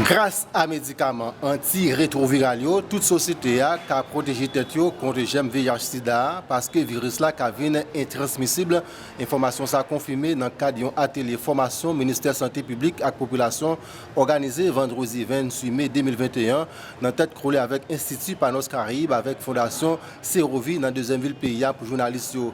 Gras a medikaman anti-retroviral yo, tout sosyete a ka pwoteje tèt yo kont jèm VIH sida a paske viris la ka vin entransmisib, enfòmasyon sa konfime nan kad yon atelye fòmasyon Ministè Sante Piblik ak Popilasyon òganize vandredi 28 me 2021 nan tèt kole avèk Enstiti Panos Caraibes avèk Fondasyon Serovi nan dezyèm vil peyi a pou jounalis yo.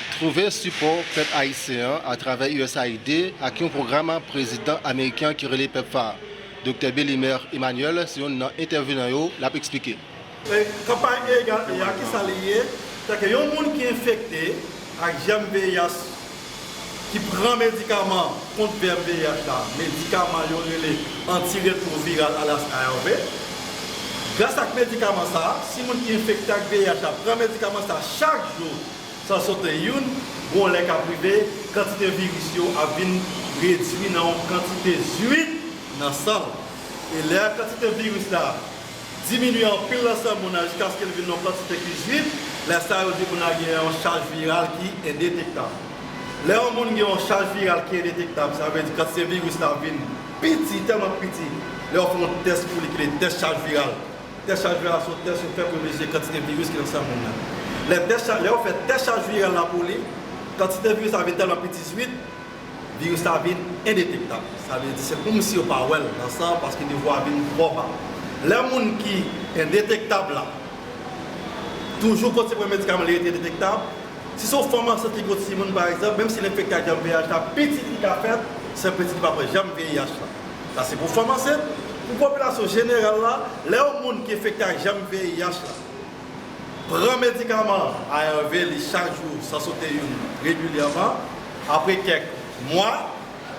Twouve sipò pèp ayisyen an atravè usaid ak yon pwogram prezidan ameriken an ki rele pepfar. Doktè Belimer Emmanuel se youn nan entèvenan yo, l ap eksplike. Kanpay Egal E a, ki sa li ye? Se ke yon moun ki enfekte ak jèm VIH ki pran medikaman kont vèm VIH la, medikaman yo rele antiretwoviral alyas ARV, gras ak medikaman sa a, si moun ki enfekte ak VIH la pran medikaman sa a chak jou, San sote youn, gwo lè k ap rive, kantite viris yo ap vin redui nan yon kantite zuit nan san l. E lè a kantite viris la diminye anpil nan san moun nan jiskaske l vin yon kantite ki zuit, lè sa yo di moun nan gen yon chaj viral ki endetektab. Lè yon moun gen yon chaj viral ki endetektab, sa vle di kantite viris la vin piti, tèlman piti, lè yo fè yon tès pou li ki rele tès chaj viral, Tès chaj viral se yon tès yo fè pou yo mezire kantite viris ki nan san moun nan. Lè tès chaj, lè yo fè tès chaj viral la pou li, kantite viris la vin tèlman piti swit, viris la vin endetektab. Sa vle di se kòm si yo pa wè l nan san an paske nivo a vin twò ba. Lè moun ki endetektab la toujou kontinye pran medikaman li rete endetektab, si se yon fanm ansent ki gen yon timoun pa egzanp, menm si l enfekte ak jèm VIH la, pitit li ka fèt san pitit li pa pran jèm VIH la. Sa se pou fanm ansent, pou popilasyon jeneral la, lè yon moun ki enfekte ak jèm VIH la pran medikaman ARV li chak jou san sote youn regilyèman, apre kèk mwa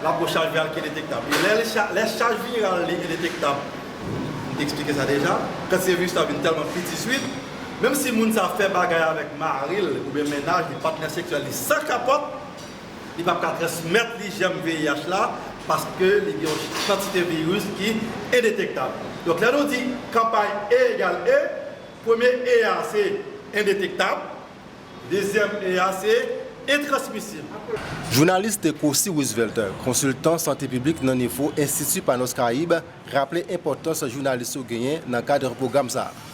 la po chaj viral ki endetektab li. Lè chaj viral li endetektab, m te eksplike sa deja, kantite viris la vin tèlman piti swit, menm si moun sa fè bagay avèk mari l oubyen mennaj li, patnè seksyèl li san kapòt, Li pap ka transmèt li jèm VIH la paske li gen yon kantite viris ki endetektab. Donk lè nou di kanpay E egal E, premye E a se endetektab, dezyèm E a se entransmisib. Jounalis Tekosi Roosevelt, konsiltan sante piblik nan nivo Enstiti Panos Caraibes, raple enpòtans jounalis yo genyen nan kad pwogram sa a.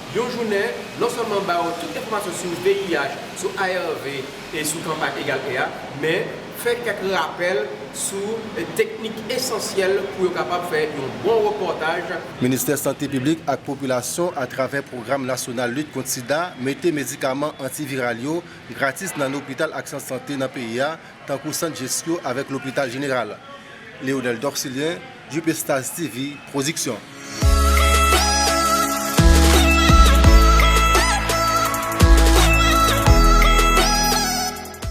Yon jounen, non sèlman ba yo tout enfòmasyon sou VIH, sou ARV e sou kanpay Egal E a, men, fè kèk rapèl sou teknik esansyèl pou yo kapab fè yon bon repòtaj. Ministè Sante Piblik ak Popilasyon atravè Pwogram Nasyonal Lit Kont Sida mete medikaman antiviral yo gratis nan lopital ak sant sante nan peyi a tankou Sant Jesco avèk Lopital Jeneral. Leonel Dorcilien. Djupestaz TV Production.